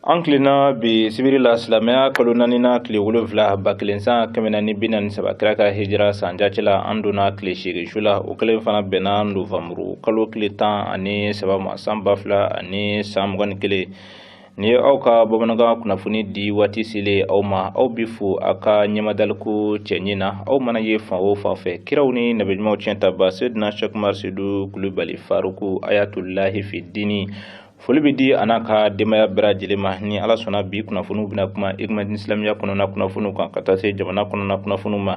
An tilenna bi sibiri la silamɛya kalo naaninan tile wolonwula ba kelen san kɛmɛ naani bi naani saba kira ka hijira san jati la an donna tile seegin su la o kelen fana bɛnna novamburu kalo tile tan ani saba ma san ba fila ani san mugan ni kelen Nin ye aw ka bamanankan kunnafoni di waati selen aw ma aw bɛ fo aw ka ɲɛmadaliko cɛɲi na aw mana ye fan o fan fɛ kiraw ni nabiɲumanw tiɲɛ taba sedina shɛku umar sedu kulubali faruku ayatulahi fi dini foli bɛ di a n'a ka denbaya bɛɛ lajɛlen ma ni ala sɔnna bi kunnafoniw bɛna kuma igmadi islamiya kɔnɔna kunnafoniw kan ka taa se jamana kɔnɔna kunnafoniw ma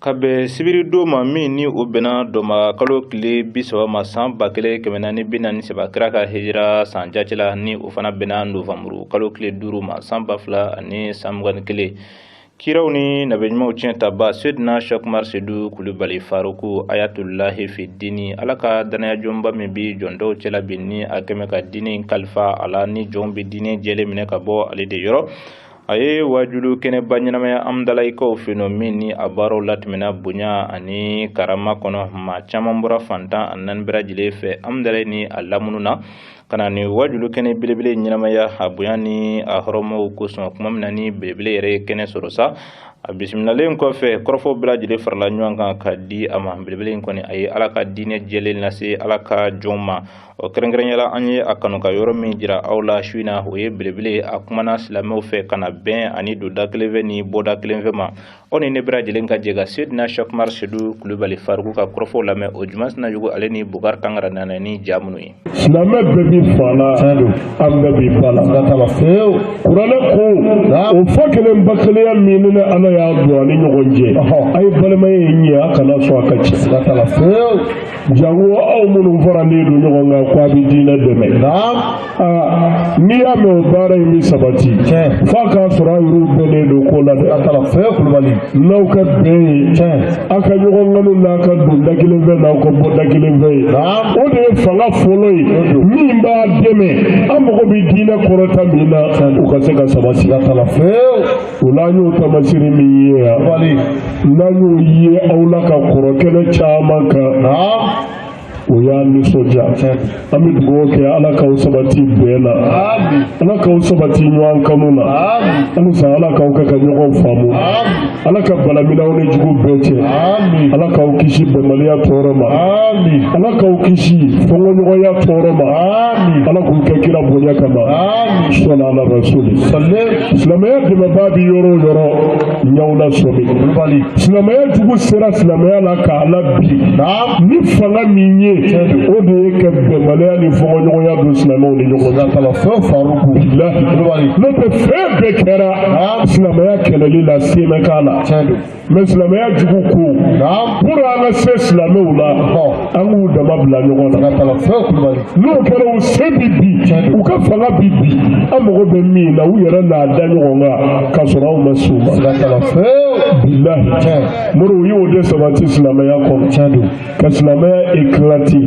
ka bɛn sibiridon ma min ni o bɛnna dɔnba kalo tile bi saba ma san ba kelen kɛmɛ naani bi naani saba kira ka hijira san jati la ni o fana bɛnna novamburu kalo tile duuru ma san ba fila ani san mugan ni kelen kiraw ni nabiɲumanw tiɲɛ taba sedina shɛku umar sedu kulubali faruku ayatulahi fi dini ala ka dannaya jɔnba min bi jɔn tɔw cɛla bi ni a kɛmɛ ka diinɛ kalifa a la ni jɔnw bɛ diinɛ jɛlen minɛ ka bɔ ale de yɔrɔ a ye wajulu kɛnɛba ɲɛnamaya amdalayikaw fɛ nɔ min ni a baaraw latɛmɛna bonya ani karama kɔnɔ maa caman bɔra fan tan ani naani bɛɛ lajɛlen fɛ amdalayi ni a lamunu na ka na nin wajulu kɛnɛ belebele ɲɛnamaya a bonya ni a hɔrɔmaw kosɔn tuma min na ni belebele yɛrɛ ye kɛnɛ sɔrɔ sa a bisimilalen kɔfɛ kɔrɔfɔw bɛɛ lajɛlen farala ɲɔgɔn kan ka di a ma belebele in kɔni a ye ala ka diinɛ jɛlen lase ala ka jɔn ma o kɛrɛnkɛrɛnya la an ye a kanu ka yɔrɔ min jira aw la su in na o ye belebele a kumana silamɛw fɛ ka na bɛn ani don da kelen fɛ ni bɔ da kelen fɛ ma aw ni ne bɛɛ lajɛlen ka jɛ ka sedina shɛku umar sedu kulubali faruku ka kɔrɔfɔw lamɛn o juma sinayogo ale ni bukari tangara nana ni ja minnu ye silamɛ bɛɛ bi fa la an bɛɛ bi ba la ka taga fewu kuranɛ ko o fa kelen ba kelenya min ni ala y'a don an ni ɲɔgɔn cɛ a ye balimaya in ɲɛ a kana sɔn a ka cɛn ka taga fewu Jango aw minnu faralen don ɲɔgɔn kan ko a bɛ diinɛ dɛmɛ. Naam. Aa n'i y'a mɛn o baara in bɛ sabati. Tiɲɛ. F'a k'a sɔrɔ aw yɛrɛw bɛnnen don ko la dɛ. A taara fɛn kulubali. N'aw ka bɛn ye. Tiɲɛ. Aw ka ɲɔgɔn kanu n'a ka don da kelen fɛ n'aw ka bɔ da kelen fɛ ye. Naam. O de ye fanga fɔlɔ ye. Min b'a dɛmɛ an mago bɛ diinɛ kɔrɔta min na o ka se ka sabati. A taara fɛn. O la an y'o tamasiri min ye yan n'an y'o ye aw la ka kɔrɔ kɛnɛ caman kan o y'an nisɔndiya an bɛ dugawu kɛ ala k'aw sabati bɛn na ala k'aw sabati ɲɔgɔn kanu na halisa ala k'aw kɛ ka ɲɔgɔn faamu ala ka balan bil'aw ni jugu bɛɛ cɛ ala k'aw kisi bɛnbaliya tɔɔrɔ ma ala k'aw kisi fɔnkɔɲɔgɔnya tɔɔrɔ ma ala k'u kɛ kira bonya kama sɔlala rasuli silamɛya dɛmɛbaa bi yɔrɔ o yɔrɔ n y'aw lasɔmi kulubali silamɛya jugu sera silamɛya la k'a la bi ni fanga min ye o de ye ka bɛnbaliya ni fɔgɔɲɔgɔnya don silamɛw ni ɲɔgɔn cɛ siga t'a la fewu faruku lahi kulubali n'o tɛ fɛn bɛɛ kɛra silamɛya kɛlɛli la se ma k'a la mɛ silamɛya jugu ko pour an ka se silamɛw la an k'u dama bila ɲɔgɔn na n'o kɛra u se bi bin u ka fanga bi bin an mago bɛ min na u yɛrɛ n'a da ɲɔgɔn kan ka sɔrɔ anw ma se u ma bilahi mori u y'o de sabati silamɛya kɔnɔ ka silamɛya éclater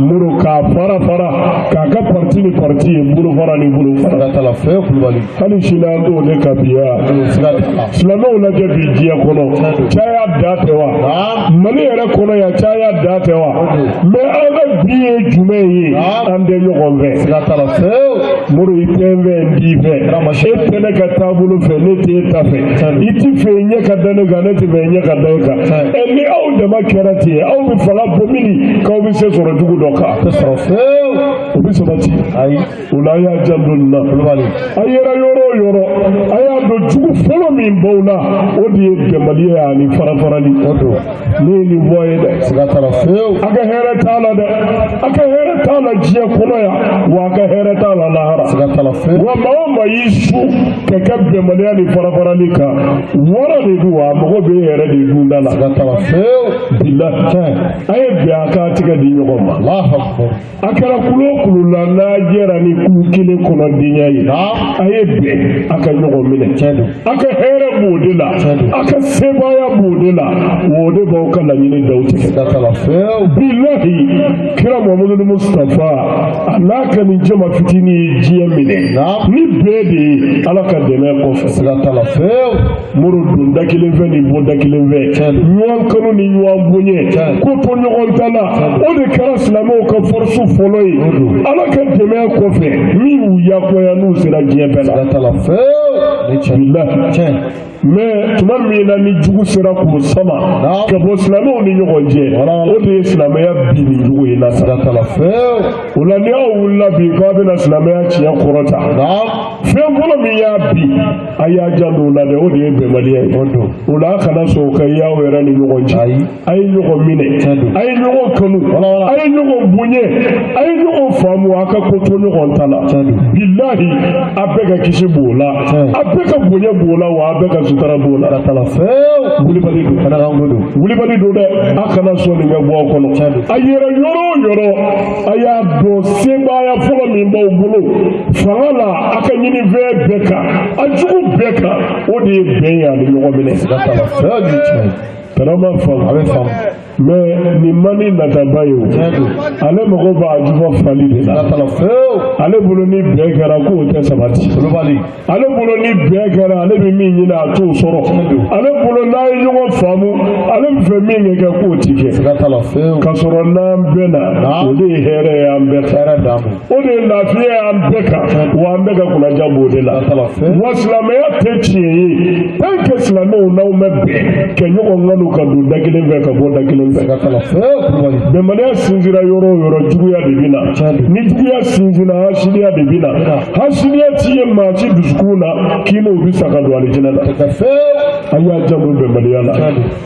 mori k'a fara fara k'a kɛ parti ni parti ye bolofara ni bolofara hali sini an t'o de kan bi ya silamɛw lajɛ bi diɲɛ kɔnɔ caya dan tɛ wa mali yɛrɛ kɔnɔ yan caya dan tɛ wa mɛ an ka bin ye jumɛn ye an tɛ ɲɔgɔn fɛ mori i tɛ n fɛ n t'i fɛ e tɛ ne ka taabolo fɛ ne t'e ta fɛ i t'a fɛ i ɲɛ ka da ne kan ne t'a fɛ n ɲɛ ka da e kan ɛ ni aw dama kɛra ten aw bɛ fanga bɔ min k'aw bɛ se sɔrɔ jugu dɔ kan. tɛ sɔrɔ fewu. o bɛ sabati. ayi o la a y'a janto nin na. kulubali. a yera yɔrɔ o yɔrɔ a y'a dɔn jugu fɔlɔ min b'aw la o de ye bɛnbaliya ye ani farafarali. o don. ne ye nin fɔ a ye dɛ. siga t'a la fewu. a ka hɛrɛ t'a la dɛ a ka hɛrɛ t'a la diɲɛ kɔnɔ yan wa a ka hɛrɛ t'a la lahara. siga t'a la fewu. wa maa o maa y'i su ka kɛ bɛnbaliya ni farafarali kan. wara de don wa a mago b'e yɛrɛ de dunta la siga t'a la fewu bilahi a ye bɛn a k'a tigɛ di ɲɔgɔn ma a kɛra kulu o kulu la n'a jɛra ni kulu kelen kɔnɔ denya ye a ye bɛn a ka ɲɔgɔn minɛ a ka hɛrɛ b'o de la a ka sebaaya b'o de la o de b'aw ka laɲini d'aw tigɛ siga t'a la fewu bilahi kira muhamadu mustapha a n'a ka nin jama fitini ye diɲɛ minɛ ni bɛn de ye ala ka dɛmɛ kɔfɛ siga t'a la fewu mori don da kelen fɛ ni bɔ da kelen fɛ ɲɔgɔn kanu ni ɲɔgɔn bonya ko to ɲɔgɔn ta la o de kɛra silamɛw ka fɔrisu fɔlɔ ye ala ka dɛmɛ kɔfɛ min y'u yakɔya n'u sera diɲɛ bɛɛ la siga t'a la fewu bilahi mɛ tuma min na ni jugu sera k'o sama ka bɔ silamɛw ni ɲɔgɔn cɛ o de ye silamɛya bin nin jugu ɲɛ na siga t'a la fewu o la ni aw wulila bi k'a bɛna silamɛya tiɲɛ kɔrɔta fɛn fɔlɔ min y'a bin a y'a janto o la dɛ o de ye bɛnbaliya ye o la a kana sɔn k'a y'aw yɛrɛ ni ɲɔgɔn cɛ a ye ɲɔgɔn minɛ a ye ɲɔgɔn kanu a ye ɲɔgɔn bonya a ye ɲɔgɔn faamu a ka ko to ɲɔgɔn ta la bilahi a bɛɛ ka kisi b'o la a bɛɛ ka bonya b'o la wa a bɛɛ ka sutura b'o la ka tala fɛɛw wulibali don kana kan ko don wulibali don dɛ a kana sɔn nin ka bɔ a kɔnɔ a yɛrɛ yɔrɔ o yɔrɔ a y'a dɔn sebaaya fɔlɔ min b'aw bolo fanga la a ka ɲini fɛn bɛɛ kan a jugu bɛɛ kan o de ye bɛn ye ani ɲɔgɔn minɛ ka tala fɛɛw ni tiɲɛ Kana ma faamu a bɛ faamu mais nin man di nataba ye o ale mago b'a jufa fali de la ale bolo ni bɛn kɛra k'o tɛ sabati ale bolo ni bɛn kɛra ale bɛ min ɲini a t'o sɔrɔ ale bolo n'a ye ɲɔgɔn faamu ale bɛ fɛn min kɛ k'o ti kɛ k'a sɔrɔ n'an bɛnna o de ye hɛrɛ ye an bɛɛ hɛrɛ d'an ma o de ye lafiya y'an bɛɛ kan wa an bɛɛ ka kunnaja b'o de la wa silamɛya tɛ tiɲɛ ye tant que silamɛw n'aw ma bɛn kɛ ɲɔgɔn kanu ka don da kelen fɛ ka bɔ da kelen fɛ bɛnbaliya sinsinra yɔrɔ o yɔrɔ juguya de bɛ na ni juguya sinsinna hasidiya de bɛ na hasidiya ti ye maa si dusukun na k'i n'o bɛ sa ka don alijinɛ la a y'a janto bɛnbaliya la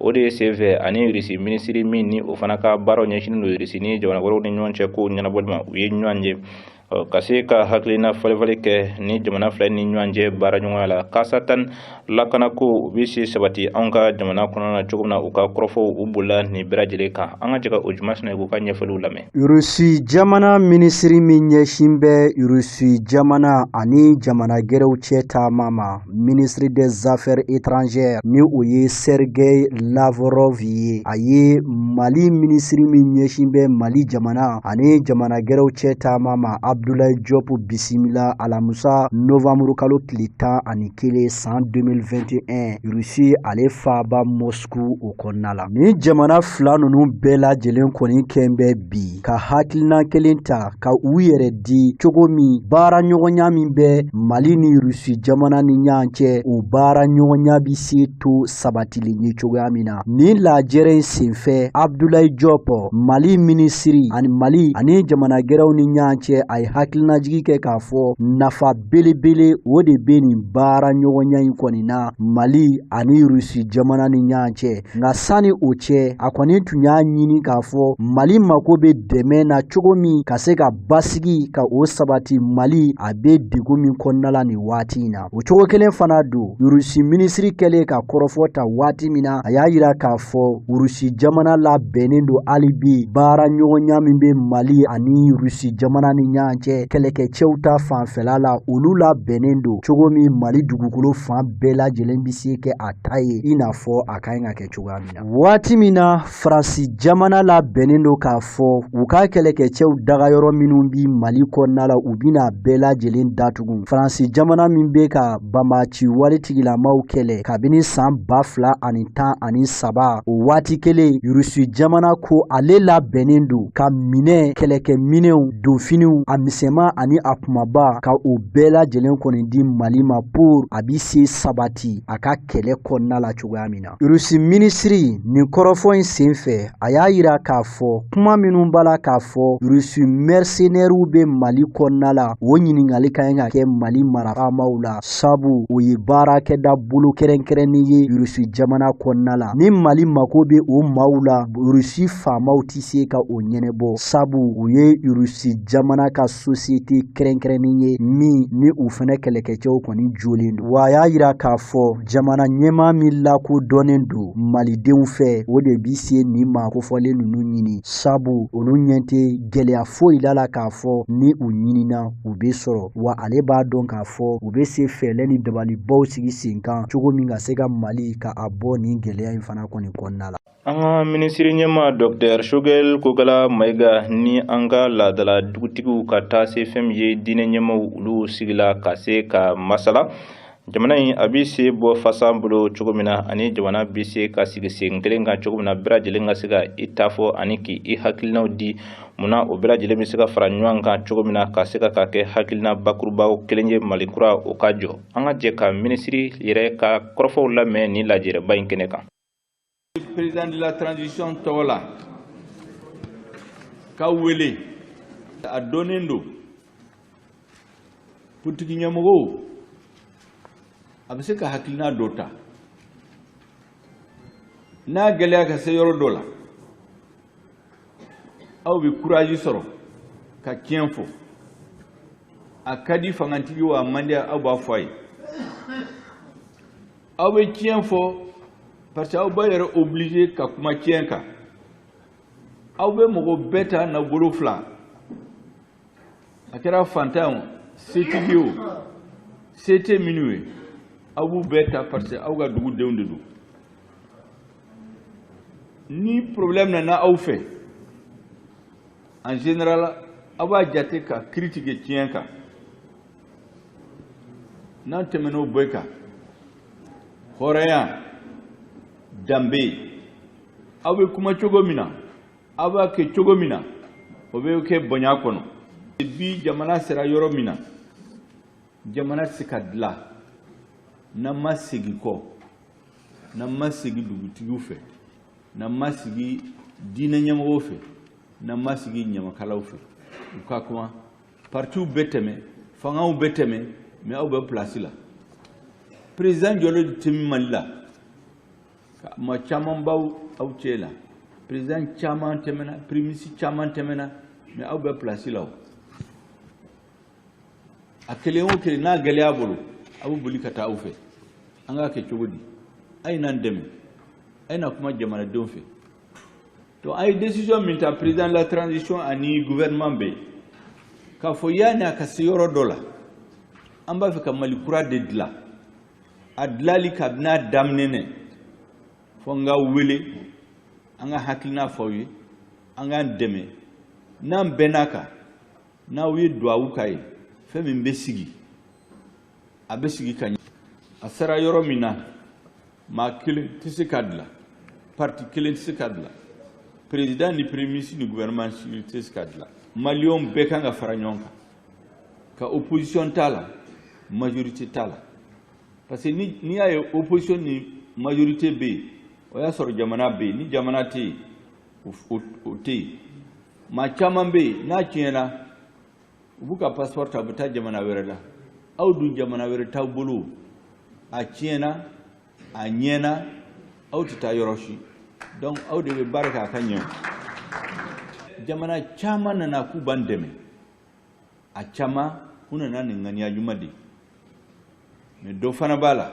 o de ye senfɛ ani irisi minisiri min ni o fana ka baaraw ɲɛsinnen don irisi ni jamana wɛrɛw ni ɲɔgɔn cɛ kow ɲɛnabɔli ma u ye ɲɔgɔn ye ka se ka hakilina falenfalen kɛ ni jamana fila ni ɲɔgɔn cɛ baaraɲɔgɔnya la kasa tan lakanako u bɛ se sabati anw ka jamana kɔnɔna na cogo min na u ka kɔrɔfɔw u bolila nin bɛɛ lajɛlen kan an ka jɛ ka o juma sina k'u ka ɲɛfɔliw lamɛn Irisi jamana minisiri min ɲɛsin bɛ Irisi jamana ani jamana gɛrɛw cɛ taama ma ministre des affaires étrangères ni o ye Sergei Lavrov ye a ye mali minisiri min ɲɛsin bɛ mali jamana ani jamana gɛrɛw cɛ taama ma abdulayi jɔpu bisimila alamusa nowanburu kalo tile tan ani kelen san 2021 rusi ale faaba mɔ ku o kɔnɔna la nin jamana fila ninnu bɛɛ lajɛlen kɔni kɛn bɛ bi ka hakilina kelen ta ka u yɛrɛ di cogo min baara ɲɔgɔnya min bɛ mali ni rusi jamana ni ɲɔgɔn cɛ o baara ɲɔgɔnya bi se to sabatili ye cogoya min na nin lajɛrɛ in senfɛ abdulayi jɔpu mali minisiri ani mali ani jamana gɛrɛw ni ɲɔgɔn cɛ a ye hakilinajigi kɛ k'a fɔ nafa belebele o de bɛ nin baara ɲɔgɔnya in kɔni na mali ani rusi jamana ni ɲɔgɔn cɛ nka sanni o cɛ a kɔni tun y'a ɲini k'a fɔ mali mako bɛ dɛmɛ na cogo min ka se ka basigi ka o sabati mali a bɛ degun min kɔnɔna la nin waati in na o cogo kelen fana don rusi minisiri kɛlen ka kɔrɔfɔ ta waati min na a y'a jira k'a fɔ fɔ Rusi jamana labɛnnen don hali bi baara ɲɔgɔnya min bɛ Mali ani Rusi jamana ni ɲɔgɔn cɛ kɛlɛkɛcɛw ta fanfɛla la olu labɛnnen don cogo min Mali dugukolo fan bɛɛ lajɛlen bɛ se kɛ a ta ye i n'a fɔ a ka ɲi ka kɛ cogoya min na waati min na Faransi jamana labɛnnen don k'a fɔ u ka kɛlɛkɛcɛw dagayɔrɔ minnu bi mali kɔnɔna la u bɛna bɛɛ lajɛlen datugu faransi jamana min bɛ ka banbagaci waletigilamaw kɛlɛ kabini san ba fila ani tan ani saba o waati kelen yurusi jamana ko ale labɛnnen don ka minɛ kɛlɛkɛminɛw donfiniw a misɛnma ani a kunbaba ka o bɛɛ lajɛlen kɔni di mali ma pour a bi se sabati a ka kɛlɛ kɔnɔna la cogoya min na Rusi minisiri nin kɔrɔfɔ in senfɛ a y'a yira k'a fɔ kuma minnu b'a la k'a fɔ Rusi mɛrisenɛriw bɛ Mali kɔnɔna la o ɲininkali ka kan ka kɛ Mali marabagaw la sabu o ye baarakɛda bolo kɛrɛnkɛrɛnnen ye Rusi jamana kɔnɔna la ni Mali mako bɛ o maaw la Rusi faamaw tɛ se ka o ɲɛnabɔ sabu u ye Rusi jamana ka sosiyete kɛrɛnkɛrɛnnen ye min ni u fɛnɛ kɛlɛkɛcɛw kɔni jolen don wa a y'a yira k'a fɔ jamana ɲɛmaa min lakodɔnnen don malidenw fɛ o de bi se nin maa kofɔlen ninnu ɲini sabu olu ɲɛ tɛ gɛlɛya foyi la la k'a fɔ ni u ɲinina u bɛ sɔrɔ wa ale b'a dɔn k'a fɔ u bɛ se fɛɛlɛ ni dabalibaw sigi sen kan cogo min ka se ka mali ka a bɔ nin gɛlɛya in fana kɔni kɔnɔna la An ka minisiri ɲɛmaa dɔktɛr shogɛl kokala mayiga ni an ka laadala dugutigiw ka taa se fɛn min ye diinɛ ɲɛmaaw olu sigila ka se ka masala jamana in a bɛ se bɔ fasa bolo cogo min na ani jamana bɛ se ka sigi sen kelen kan cogo min na bɛɛ lajɛlen ka se ka i ta fɔ ani k' i hakilinaw di munna o bɛɛ lajɛlen bɛ se ka fara ɲɔgɔn kan cogo min na ka se ka ka kɛ hakilina bakurubaw kelen ye mali kura o ka jɔ an ka jɛ ka minisiri yɛrɛ ka kɔrɔfɔw lamɛn nin lajɛrɛba in kɛnɛ kan président de la transition tɔgɔ la ka wele a dɔnnen don politiki ɲɛmɔgɔw a bɛ se ka hakilina dɔ ta n'a gɛlɛya ka se yɔrɔ dɔ la aw bɛ kuraji sɔrɔ ka tiɲɛ fɔ a ka di fangatigi wa a man di aw b'a fɔ a ye aw bɛ tiɲɛ fɔ parce que aw b'a yɛrɛ obligé ka kuma tiɲɛ kan aw bɛ mɔgɔ bɛɛ ta n'a bolo fila a kɛra fantan o setigi o se tɛ minnu ye aw b'u bɛɛ ta parce que aw ka dugudenw de don ni problème nana aw fɛ en général aw b'a jate ka kiiri tigɛ tiɲɛ kan n'an tɛmɛn'o bɛɛ kan hɔrɔnya danbe aw bɛ kuma cogo min na aw b'a kɛ cogo min na o bɛ kɛ bonya kɔnɔ bi jamana sera yɔrɔ min na jamana tɛ se ka dilan n'an ma segin kɔ n'an ma segin dugutigiw fɛ n'an ma sigi diinɛ ɲɛmɔgɔw fɛ n'an ma sigi ɲamakalaw fɛ u ka kuma partiw bɛ tɛmɛ fangaw bɛ tɛmɛ mais aw bɛ pilasi la président jɔlen tɛ mali la maa caman b'aw cɛ la président caman tɛmɛna premier ministre caman tɛmɛna mais aw bɛ pilasi la o a kelen o kelen n'a gɛlɛya bolo a bɛ boli ka taa aw fɛ an k'a kɛ cogo di a ye n'an dɛmɛ a ye na kuma jamanadenw fɛ donc an ye desiziyɔn min ta président de la transition ani gouvernement bɛɛ k'a fɔ yanni a ka se yɔrɔ dɔ la an b'a fɛ ka mali kura de dilan a dilanli kabini a daminɛ na fo an k'aw wele an ka hakilina fɔ aw ye aw k'an dɛmɛ n'an bɛnn'a kan n'aw ye duwawu k'a ye fɛn min bɛ sigi a bɛ sigi ka ɲɛ a sera yɔrɔ min na maa kelen tɛ se k'a dilan parti kelen tɛ se k'a dilan président ni premier ministre ni gouvernement si tɛ se k'a dilan maliyɛnw bɛɛ kan ka fara ɲɔgɔn kan ka opposition t'a la majorité t'a la parce que n'i y'a ye opposition ni majorité bɛ yen o y'a sɔrɔ jamana bɛ yen ni jamana tɛ yen o tɛ yen maa caman bɛ yen n'a tiɲɛna u b'u ka passeport ta u bɛ taa jamana wɛrɛ la aw dun jamana wɛrɛ t'aw bolo a tiɲɛna a ɲɛna aw tɛ taa yɔrɔ si donc aw de bɛ baara kɛ a ka ɲɛ jamana caman nana k'u b'an dɛmɛ a caman u nana ni ŋaniya ɲuman de mais dɔ fana b'a la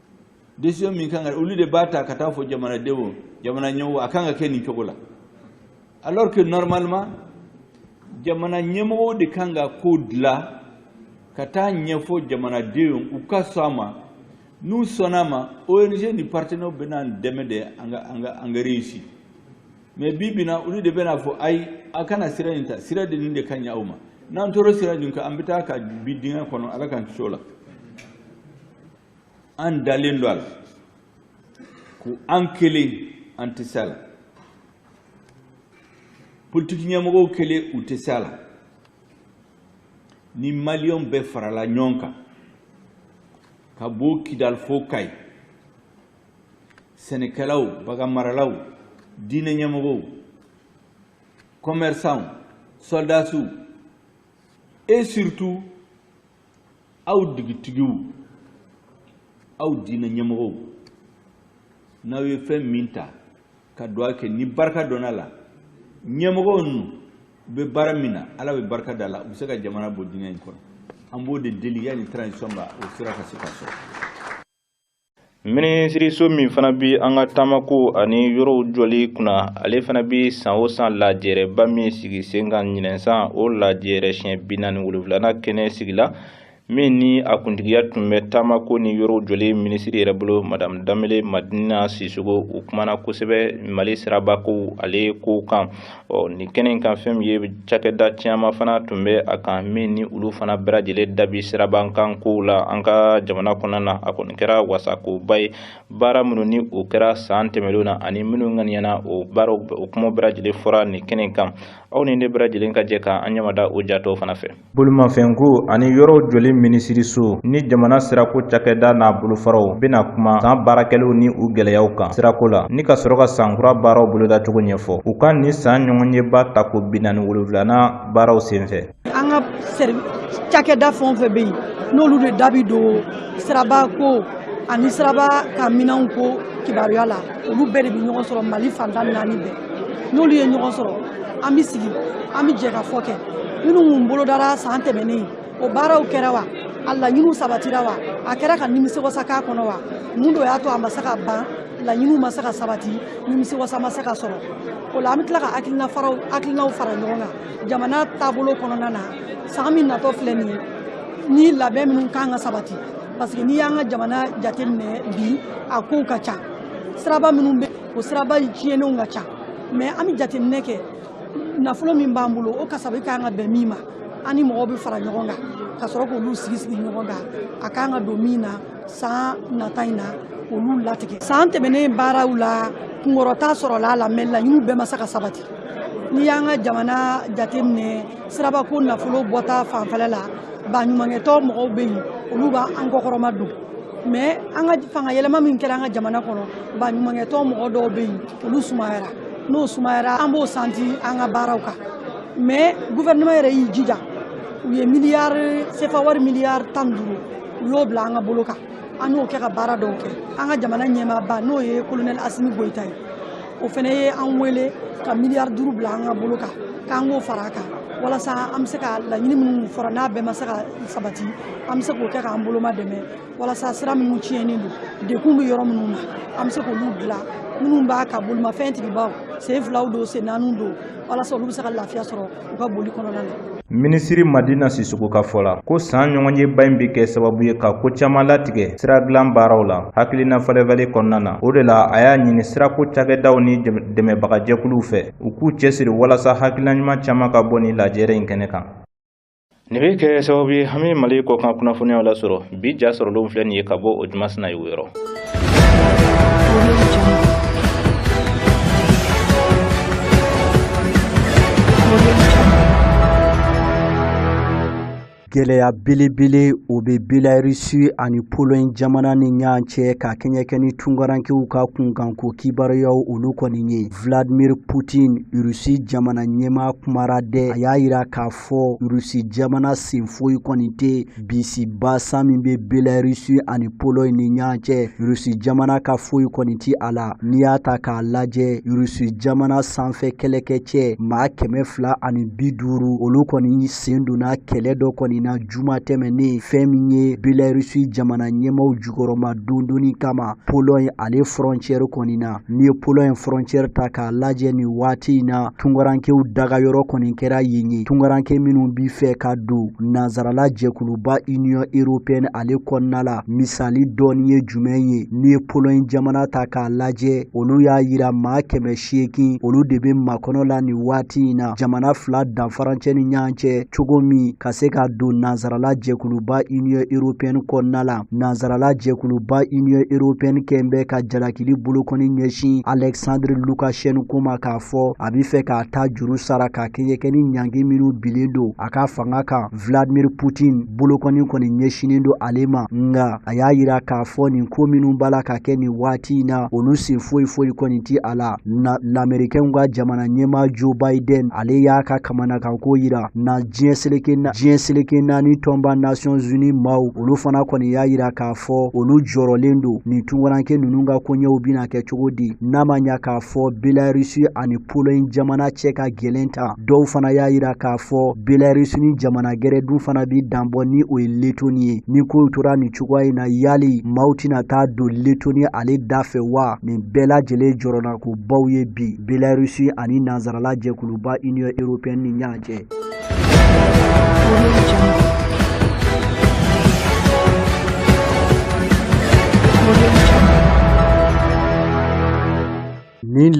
desiziyɔn min kan ka olu de b'a ta ka taa fɔ jamanadenw jamana ɲɛmɔgɔ a kan ka kɛ nin cogo la alors que normalement jamana ɲɛmɔgɔw de kan ka ko dilan ka taa ɲɛfɔ jamanadenw u ka sɔn a ma n'u sɔnna a ma ong ni partenaires bɛna an dɛmɛ de an ka an ka an ka réussi mais bi bi in na olu de bɛna fɔ ayi a kana sira in ta sira de nin de ka ɲi aw ma n'an tora sira nin kan an bɛ taa ka bin dingɛ kɔnɔ ala k'an kisi o la an dalen don a la ko an kelen an tɛ se a la politiki ɲɛmɔgɔw kelen u tɛ se a la ni maliyɛnw bɛɛ farala ɲɔgɔn kan ka bɔ kidali fo kayi sɛnɛkɛlaw bagan maralaw diinɛ ɲɛmɔgɔw kɔmɛrisanw sɔldasiw et surtout aw dugutigiw aw diinɛ ɲɛmɔgɔw n'aw ye fɛn min ta ka duwa kɛ ni barika donna a la ɲɛmɔgɔw ninnu u bɛ baara min na ala bɛ barika da a la u bɛ se ka jamana bɔ dingɛ in kɔnɔ an b'o de deli yanni transition ban o sira ka se ka sɔrɔ minisiriso min fana bi an ka taamako ani yɔrɔw jɔli kunna ale fana bi san o san lajɛrɛba min sigi sen kan ɲinɛnsan o lajɛrɛ siɲɛ bi naani wolonwulanan kɛnɛ sigila min ni a kuntigiya tun bɛ taamako ni yɔrɔw jɔli minisiri yɛrɛ bolo madamu danbele madina sisogo u kumana kosɛbɛ mali sirabakow ale kow kan ɔ nin kɛnɛ in kan fɛn min ye cakɛda caman fana tun bɛ a kan min ni olu fana bɛɛ lajɛlen da bi sirabakan kow la an ka jamana kɔnɔna na a kɔni kɛra wasakoba ye baara minnu ni o kɛra san tɛmɛnlenw na ani minnu ŋaniyana o baaraw o kuma bɛɛ lajɛlen fɔra nin kɛnɛ in kan aw ni ne bɛɛ lajɛlen ka jɛ ka an ɲɛmada o jatɔw fana fɛ Bolimafɛnko ani yɔrɔw jɔli minisiriso ni jamana sirako cakɛda n'a bolofaraw bɛna kuma san baara kɛlenw ni u gɛlɛyaw kan sirako la ni ka sɔrɔ ka san kura baaraw bolodacogo ɲɛfɔ u ka nin san ɲɔgɔnyeba tako bi naani wolonwulanan baaraw senfɛ an ka cakɛda fɛn o fɛn bɛ yen n'olu de da bi don siraba ko ani siraba kan minɛnw ko kibaruya la olu bɛɛ de bɛ ɲɔgɔn sɔrɔ mali fan tan ni naani bɛɛ n'olu ye ɲɔgɔn sɔrɔ an bɛ sigi an bɛ jɛkafɔ kɛ minnu tun bolodara san tɛmɛnnen o baaraw kɛra wa a laɲiniw sabatira wa a kɛra ka nimisiwasa k'a kɔnɔ wa mun de y'a to a ma se ka ban laɲiniw ma se ka sabati nimisiwasa ma se ka sɔrɔ o la an bɛ tila ka hakilinaw fara ɲɔgɔn kan jamana taabolo kɔnɔna na san min natɔ filɛ nin ye ni labɛn minnu ka kan ka sabati parce que n'i y'an ka jamana jateminɛ bi a kow ka ca siraba minnu bɛ o siraba tiɲɛnenw ka ca mais an bɛ jateminɛ kɛ nafolo min b'an bolo o kasabi ka kan ka bɛn min ma an ni mɔgɔw bɛ fara ɲɔgɔn kan ka sɔrɔ k'olu sigi sigi ɲɔgɔn kan a ka kan ka don min na san nata in na olu latigɛ san tɛmɛnen baaraw la kunkɔrɔta sɔrɔla a la mais laɲiniw bɛɛ ma se ka sabati n'i y'an ka jamana jateminɛ sirabako nafolo bɔta fanfɛla la baɲumankɛtɔn mɔgɔw bɛ yen olu b'an kɔkɔrɔmadon mais an ka fanga yɛlɛma min kɛra an ka jamana kɔnɔ baɲumankɛtɔ mɔgɔ dɔw bɛ yen olu sumayara n'o sumayara an b'o santi an ka baaraw kan mais gouvernement yɛrɛ y'i jija u ye miliyari sefa wari miliyari tan ni duuru u y'o bila an ka bolo kan an y'o kɛ ka baara dɔw kɛ an ka jamana ɲɛmaaba n'o ye kolonɛli asimi goyita ye o fana ye an wele ka miliyari duuru bila an ka bolo kan k'an k'o fara a kan walasa an bɛ se ka laɲini minnu fɔra n'a bɛɛ ma se ka sabati an bɛ se k'o kɛ k'an boloma dɛmɛ walasa sira minnu tiɲɛnen don dekun bɛ yɔrɔ minnu na an bɛ se k'olu dila minnu b'a ka bolimafɛn tigibaw sen filaw don sen naaniw don walasa olu bɛ se ka lafiya sɔrɔ u ka boli kɔnɔna na minisiri madina sisoko ka fɔ la ko san ɲɔgɔnyeba in bɛ kɛ sababu ye ka ko caaman latigɛ sira dilan baaraw la hakilina falenfalen kɔnɔna na o de la a y'a ɲini sirako cakɛdaw ni dɛmɛbagajɛkuluw fɛ u k'u cɛsiri walasa hakilina ɲuman caaman ka bɔ nin lajɛrɛ in kɛnɛ kan nin bɛ kɛ sababu ye an bɛ mali kɔkan kunnafoniyaw lasɔrɔ bi ja sɔrɔlenw filɛ nin ye ka bɔ ojuma sinayɔgɔ yɔrɔ gɛlɛya belebele o bɛ belarusi ani poloɲi jamana ni ɲɔgɔn cɛ ka kɛɲɛkɛ ni tunkarankew ka kunkanko kibaruyaw olu kɔni ye vladimir putin rusi jamana ɲɛmaa kumara dɛ a y'a jira k'a fɔ fɔ rusi jamana sen foyi kɔni tɛ bisibasa min bɛ belarusi ani poloɲi ni ɲɔgɔn cɛ rusi jamana ka foyi kɔni tɛ a la n'i y'a ta k'a lajɛ rusi jamana sanfɛ kɛlɛkɛcɛ maa kɛmɛ fila ani bi duuru olu kɔni sen donna kɛlɛ dɔ kɔni na juma tɛmɛnen fɛn min ye belarusi jamana ɲɛmaaw jukɔrɔma dondonni kama poloɲi ale fɔrɔncɛri kɔni na N'i ye poloɲi fɔrɔncɛri ta k'a lajɛ nin waati in na tunkarankew dagayɔrɔ kɔni kɛra yen ye tunkaranke minnu bɛ fɛ ka don nansarala jɛkuluba Union européenne ale kɔnɔna la misali dɔɔni ye jumɛn ye n'i ye poloɲi jamana ta k'a lajɛ olu y'a jira maa kɛmɛ seegin olu de bɛ makɔnɔ la nin waati in na jamana fila danfarancɛ ni ɲɔgɔn cɛ cogo min ka se ka don nansarala jɛkuluba Union européenne kɔnɔna la Nansarala jɛkuluba Union européenne kɔni bɛ ka jalakili bolokɔni ɲɛsin Alexandre Lukashenko ma k'a fɔ a bɛ fɛ k'a tajuru sara ka kɛɲɛ kɛ ni ɲangi minnu bilen don a ka fanga kan Vladimir Poutine bolokɔni kɔni ɲɛsinnen don ale ma nka a y'a jira k'a fɔ nin ko minnu b'a la ka kɛ nin waati in na olu sen foyi foyi kɔni tɛ a la lamɛrikɛnw ka jamana ɲɛmaa Joe Biden ale y'a ka kamanaganko jira na diɲɛ seleke naani tɔnba nations unies maaw olu fana kɔni y'a yira k'a fɔ olu jɔrɔlen don nin tunkaranke ninnu ka koɲɛw bɛna kɛ cogo di n'a ma ɲa k'a fɔ belarusi ani pologne jamana cɛ ka gɛlɛn ta dɔw fana y'a yira k'a fɔ belarusi ni jamana gɛrɛ dun fana bi dan bɔ ni o ye letoni ye ni kow tora nin cogoya in na yali maaw tɛna taa don letoni ale da fɛ wa nin bɛɛ lajɛlen jɔrɔnakobaw ye bi belarusi ani nazarala jɛkuluba union européenne ni ɲa Nin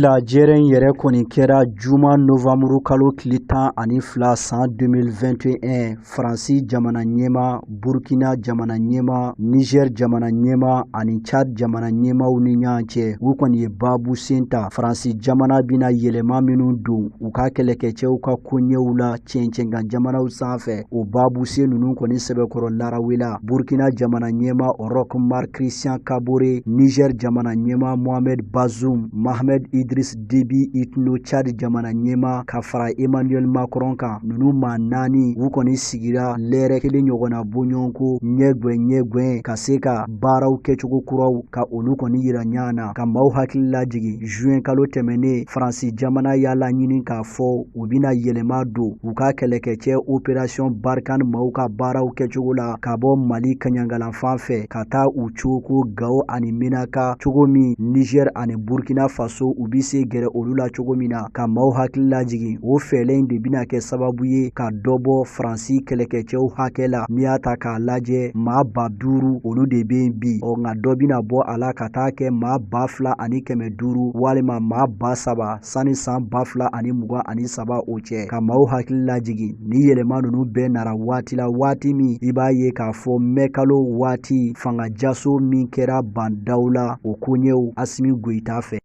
lajɛrɛ in yɛrɛ kɔni kɛra juma nowanburukalo tile tan ani fila san 2021 Faransi jamana ɲɛma burkina jamana ɲɛma niger jamana ɲɛma ani chad jamana ɲɛmaw ni ɲɔgɔn cɛ u kɔni ye baabu sen ta faransi jamana bina yɛlɛma minnu don u ka kɛlɛkɛcɛw ka koɲɛw la cɛncɛnkan jamanaw sanfɛ o baabu sen nunu kɔni sɛbɛkɔrɔ larawela burkina jamana ɲɛma roch marc christian kabore niger jamana ɲɛma mohamed bazoum mahamat idriss Déby Itno Chad jamana ɲɛma ka fara Emmanuel Macron kan ninnu maa naani u kɔni sigira lɛrɛ kelen ɲɔgɔnna boɲɔgɔnko ɲɛ gwɛn ɲɛ gwɛn ka se ka baaraw kɛcogo kuraw ka olu kɔni yira ɲɔgɔn na ka maaw hakili lajigin juin kalo tɛmɛnen faransi jamana y'a laɲini k'a fɔ u bɛna yɛlɛma don u ka kɛlɛkɛcɛ opération barkhane maaw ka baaraw kɛcogo la ka bɔ mali kaɲangalan fan fɛ ka taa u cogo gao ani menaka cogo min niger ani burkina faso u bɛ se gɛrɛ olu la cogo min na ka maaw hakili lajigin o fɛɛlɛ in de bɛna kɛ sababu ye ka dɔ bɔ faransi kɛlɛkɛcɛw hakɛ la n'i y'a ta k'a lajɛ maa ba duuru olu de bɛ yen bi ɔ nka dɔ bɛna bɔ a la ka taa kɛ maa ba fila ani kɛmɛ duuru walima maa ba saba sani san ba fila ani mugan ani saba o cɛ ka maaw hakili lajigin Ni yɛlɛma ninnu bɛɛ nara waati la waati min i b'a ye k'a fɔ mɛkalo waati fangajaso min kɛra ba ndaw la o koɲɛw assimi goïta fɛ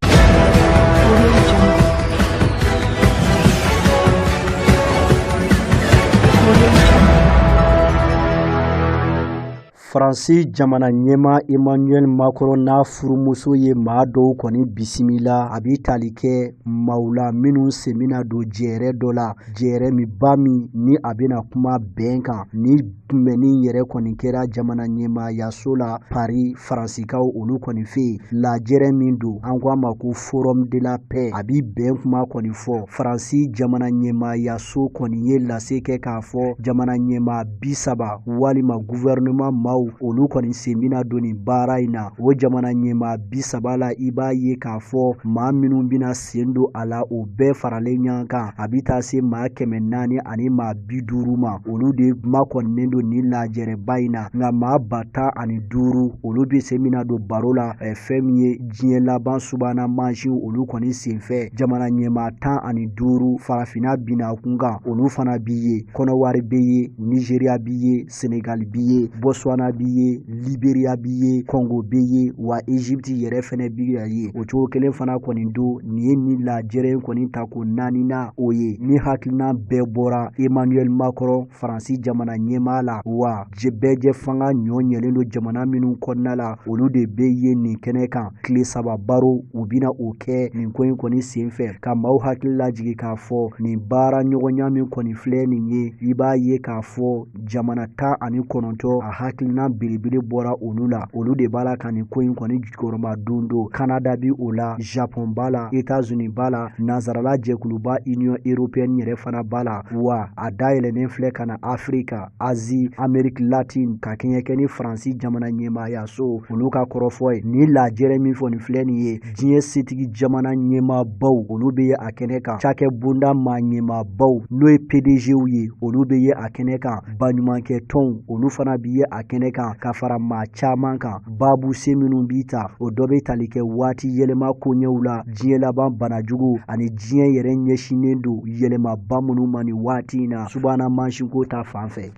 faransi jamana ɲɛma emmanuel macron n'a furumuso ye maa dɔw kɔni bisimila a bɛ tali kɛ maaw la minnu sen bɛna don jɛɛrɛ dɔ la jɛɛrɛ min ba min ni a bɛna kuma bɛn kan nin kunbɛnni yɛrɛ kɔni kɛra jamana ɲɛmaayaso la paris faransikaw olu kɔni fɛ yen lajɛrɛ min don an ko a ma ko forum de la paix a bɛ bɛn kuma kɔni fɔ faransi jamana ɲɛmaayaso kɔni ye lase kɛ k'a fɔ jamana ɲɛmaa bi saba walima gufɛrɛneman maaw olu kɔni sen bɛna don nin baara in na o jamana ɲɛmaa bi saba la i b'a ye k'a fɔ maa minnu bɛna sen don a la o bɛɛ faralen ɲɔgɔn kan a bɛ taa se maa kɛmɛ naani ani maa bi duuru ma olu de makɔnilen don nin lajɛrɛba in na nka maa ba tan ani duuru olu bɛɛ sen bɛna don baro la eh, fɛn min ye diɲɛ laban subahana mansinw olu kɔni senfɛ jamana ɲɛmaa tan ani duuru farafinna binna kun kan olu fana bi ye kɔnɔwari bɛ ye nizeriya bi ye senegali bi ye boswana bi ye liberiya bi ye kɔngo bɛ ye wa ezipti yɛrɛ fɛnɛ bi ye o cogo kelen fana kɔni don nin ye nin lajɛrɛ in kɔni tako naaninan o ye ni hakilinan bɛɛ bɔra emmanuel macron faransi jamana ɲɛmaa la wa bɛɛjɛ fanga ɲɔ ɲɛlen don jamana minnu kɔnɔna la olu de bɛ ye nin kɛnɛ kan tile saba baro u bɛna o kɛ nin ko in kɔni sen fɛ ka maaw hakili lajigi k'a fɔ nin baara ɲɔgɔnya min kɔni filɛ nin ye i b'a ye k'a fɔ jamana tan ani kɔnɔntɔn a hakilina belebele bɔra olu la olu de b'a la ka nin ko in kɔni jukɔrɔmadondon kanada bi o la japɔn b'a la etazuni b'a la nansarala jɛkuluba union européenne yɛrɛ fana b'a la wa a dayɛlɛnnen filɛ ka na afirika Azi, Amerik Latin ka kɛɲɛ kɛ ni Faransi jamana ɲɛmaayaso olu ka kɔrɔfɔ ye. Ni lajɛrɛ min kɔni filɛ nin ye, diɲɛ setigi jamana ɲɛmaabaw olu bɛ ye a kɛnɛ kan. Cakɛ bonda maa ɲɛmaabaw n'o ye PDGw ye olu bɛ ye a kɛnɛ kan. Baɲumankɛ tɔnw olu fana bi ye a kɛnɛ kan ka fara maa caman kan. Baabu sen minnu bi ta, o dɔ bɛ tali kɛ waati yɛlɛma koɲɛw la. diɲɛ laban banajugu ani diɲɛ yɛrɛ ɲɛsinnen don yɛlɛmaba minnu ma nin waati in na subahana mansinko ta fan fɛ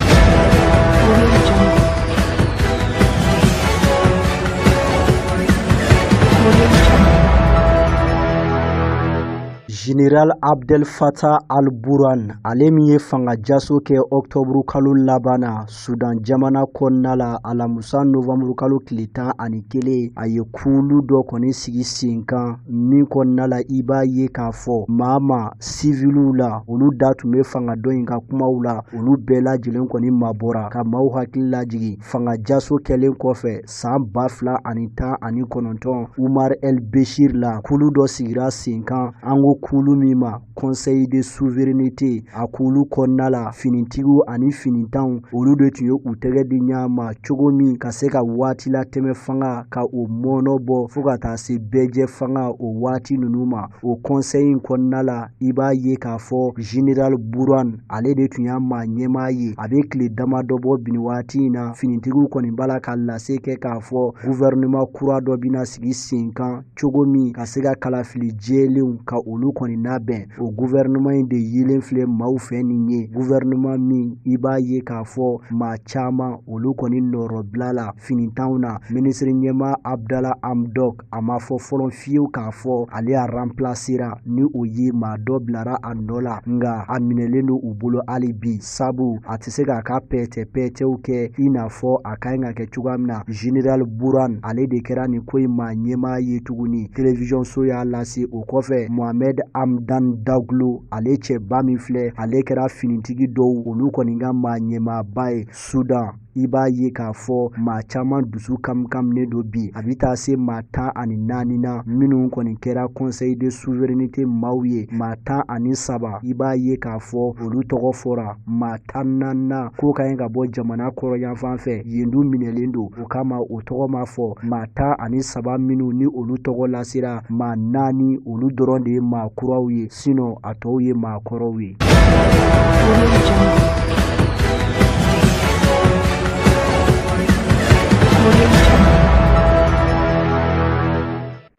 General Abdel Fattah al-Burhan ale min ye fanga jaso kɛ octobre kalo laban na Sudan jamana kɔnɔna la alamusa novanburu kalo tile tan ani kelen a ye kulu dɔ kɔni sigi sen kan min kɔnɔna la i b'a ye k'a fɔ maa ma siviliw la olu da tun bɛ fanga dɔ in ka kumaw la olu bɛɛ lajɛlen kɔni mabɔra ka maaw hakili lajigi fanga jaso kɛlen kɔfɛ san ba fila ani tan ani kɔnɔntɔn umar el beshir la kulu dɔ sigira sen kan an ko kulu min ma conseil de souveraineté a kulu kɔnɔna la finitigiw ani finitanw olu de tun ye u tɛgɛ di ɲɔgɔn ma cogo min ka se ka waatilatɛmɛ fanga ka o mɔnɔ bɔ fɔɔ ka taa se bɛɛjɛ fanga o waati nunu ma o conseil in kɔnɔna la i b'a ye k'a fɔ general buran ale de tun y'a maa ɲɛmaa ye a bɛ tile damadɔ bɔ bi nin waati in na finitigiw kɔni b'a la ka lase kɛ k'a fɔ gouvernement kura dɔ bɛna sigi sen kan cogo min ka se ka kalafili jɛlenw ka olu kɔni labɛn o guvɛrɛnaman in de yelen filɛ maaw fɛ nin ye guvɛrɛnaman min i b'a ye k'a fɔ maa caman olu kɔni nɔrɔbilala finitanw na minisiri ɲɛmaa abdala hamdɔk a ma fɔ fɔlɔ fiyew k'a fɔ ale a ranpilasera ni o ye maa dɔ bilara a nɔ la nka a minɛlen don u bolo hali bi sabu a tɛ se k'a ka pɛɛtɛ pɛɛtɛw kɛ i n'a fɔ a ka ɲi ka kɛ cogoya min na general burhan ale de kɛra nin ko in maa ɲɛmaa ye tuguni television so y'a lase o kɔfɛ mohamed hamdan daglo ale cɛba min filɛ ale kɛra finitigi dɔw olu kɔni ka maa ɲɛmaaba ye sudan i b'a ye k'a fɔ maa caman dusu kamikaminen don bi a bɛ taa se maa tan ani naani na minnu kɔni kɛra conseil de souveraineté maaw ye maa tan ani saba i b'a ye k'a fɔ olu tɔgɔ fɔra maa tan naaninan k'o ka ɲi ka bɔ jamana kɔrɔnyanfan fɛ yen dun minɛlen don o kama o tɔgɔ ma fɔ maa tan ani saba minnu ni olu tɔgɔ lasera maa naani olu dɔrɔn de ye maa kuraw ye sinɔn a tɔw ye maa kɔrɔw ye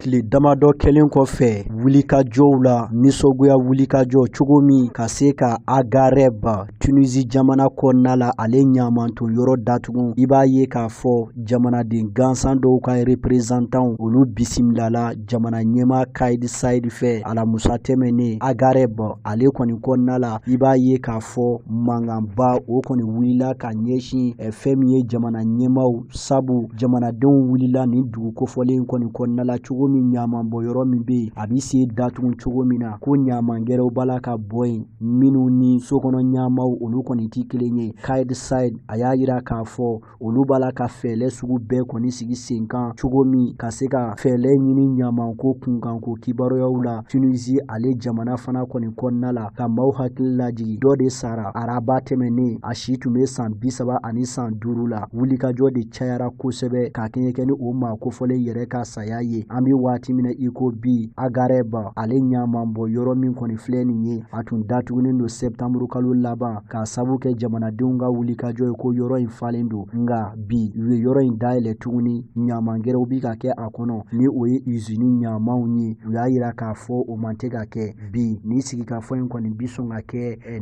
tile damadɔ kɛlen kɔfɛ wulikajɔw la nisɔngoya wulikajɔ cogo min ka se ka agarɛb tunisi jamana kɔnɔna la ale ɲamanton yɔrɔ datugu i b'a ye k'a fɔ jamanaden gansan dɔw ka reperezantanw olu bisimilala jamana ɲɛmaa kayidi sayidi fɛ alamusa tɛmɛnen agarɛb ale kɔni kɔnɔna la i b'a ye k'a fɔ mankanba o kɔni wulila ka ɲɛsin eh, fɛn min ye jamana ɲɛmaaw sabu jamanadenw wulila nin dugu kofɔlen kɔni kɔnɔna la cogo min ɲaman bɔn yɔrɔ min bɛ yen a bɛ se datugu cogo min na ko ɲaman gɛrɛw b'a la ka bɔn yen minnu ni sokɔnɔ ɲamanw olu kɔni tɛ kelen ye kayidi sayidi a y'a yira k'a fɔ olu b'a la ka fɛɛlɛ sugu bɛɛ kɔni sigi sen kan cogo min ka se ka fɛɛlɛ ɲini ɲamanko kunkanko kibaruyaw la tunisi ale jamana fana kɔni kɔnɔna la ka maaw hakili lajigi dɔ de sara araba tɛmɛnen a si tun bɛ san bi saba ani san duuru la wulikajɔ de cayara kosɛbɛ ka kɛɲɛ kɛ ni o maa kofɔlen yɛrɛ ka saya ye an bɛ waati min na i ko bi agarɛb ale ɲaman bɔn yɔrɔ min kɔni filɛ nin ye a tun datugunen don sɛptanburukalo laban k'a sabu kɛ jamanadenw ka wulikajɔ ye ko yɔrɔ in falen don nka bi u ye yɔrɔ in dayɛlɛ tuguni ɲaman gɛrɛw bi ka kɛ a kɔnɔ ni o ye izini ɲamanw ye u y'a yira k'a fɔ o man tɛ ka kɛ bi nin sigikafɔ in kɔni bi sɔn ka kɛ eh,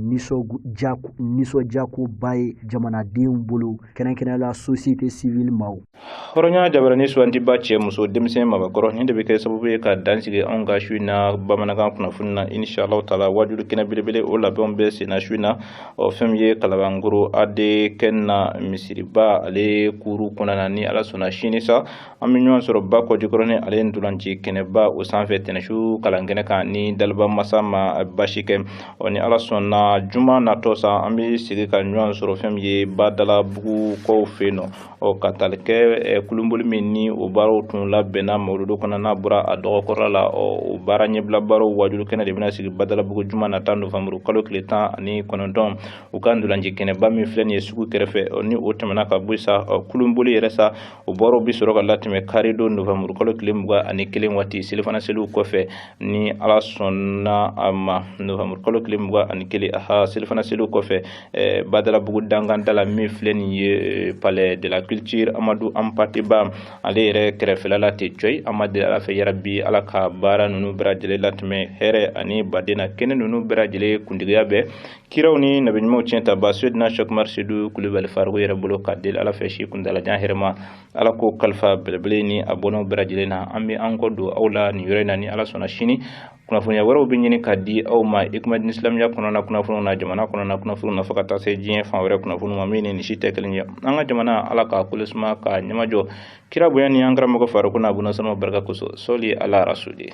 nisɔndiyakoba ye jamanadenw bolo kɛrɛnkɛrɛnya la sosiyete sivili maw hɔrɔnya jabarani suwantiba cɛ muso denmisɛn mabakɔrɔ nin de bɛ kɛ sababu ye ka dan sigi anw ka su in na bamanankan kunnafoni na inshallah taala waajulu kɛnɛ belebele o labɛnw bɛ senna su in na ɔ fɛn min ye kalabankɔrɔ adekɛn na misiriba ale kuru kɔnɔna na ni ala sɔnna sini sa an bɛ ɲɔgɔn sɔrɔ bakɔjikɔrɔni ale ntolaci kɛnɛba o sanfɛ tɛnɛsu kalankɛnɛ kan ni daliba masa ma baasi kɛ ɔ ni ala sɔnna juma natɔ sa an bɛ sigi ka ɲɔgɔn sɔrɔ fɛn min ye badalabugu kɔw fɛ yen nɔ ɔ ka tali kɛ eh, kulunboli min ni o baaraw tun labɛnna mawuludu kɔnɔ n'a bɔra a dɔgɔkɔrɔ la ɔ o baara ɲɛbila baaraw waajulu kɛnɛ de bɛna sigi badalabugu juma nata novanburu kalo tile tan ani kɔnɔntɔn u ka ntolaci kɛnɛba min filɛ nin ye sugu kɛrɛfɛ ɔ ni o tɛmɛna ka bɔ sa ɔ kulunboli yɛrɛ sa o baaraw bɛ sɔrɔ ka latɛmɛ kari don novanburu kalo tile mugan ani kelen waati selifana seliw kɔfɛ ni ala sɔnna a ma novanburu kalo tile mugan ani kelen aha selifana seliw kɔfɛ Eh, badalabugu dankanda la min filɛ nin ye eh, palais de la culture amadu hampate ba ale yɛrɛ kɛrɛfɛla la ten cɔyi an b'a deli ala fɛ yarabi ala ka baara ninnu bɛɛ lajɛlen latɛmɛ hɛrɛ ani badenya kɛnɛ ninnu bɛɛ lajɛlen kuntigiya bɛ kiraw ni nabi ɲumanw tiɲɛtaba seyidina sɛki umaru seyidu kulubali faruku yɛrɛ bolo k'a deli ala fɛ si kuntalajan hɛrɛma ala k'o kalifa belebele ni a bɔnnaw bɛɛ lajɛlen na an bɛ an kɔ don aw la nin yɔrɔ in na ni ala sɔnna sini kunnafoniya wɛrɛw bɛ ɲini ka di aw ma i komi diinɛ silamɛya kɔnɔna kunnafoniw na jamana kɔnɔna kunnafoniw na fo ka taa se diɲɛ fan wɛrɛ kunnafoniw ma min ni nin si tɛ kelen ye an ka jamana ala k'a kolo suma k'a ɲɛmajɔ kira bonya ni an karamɔgɔ faruku n'a bɔnna sanuman barika kosɔn sɔli ala rasuli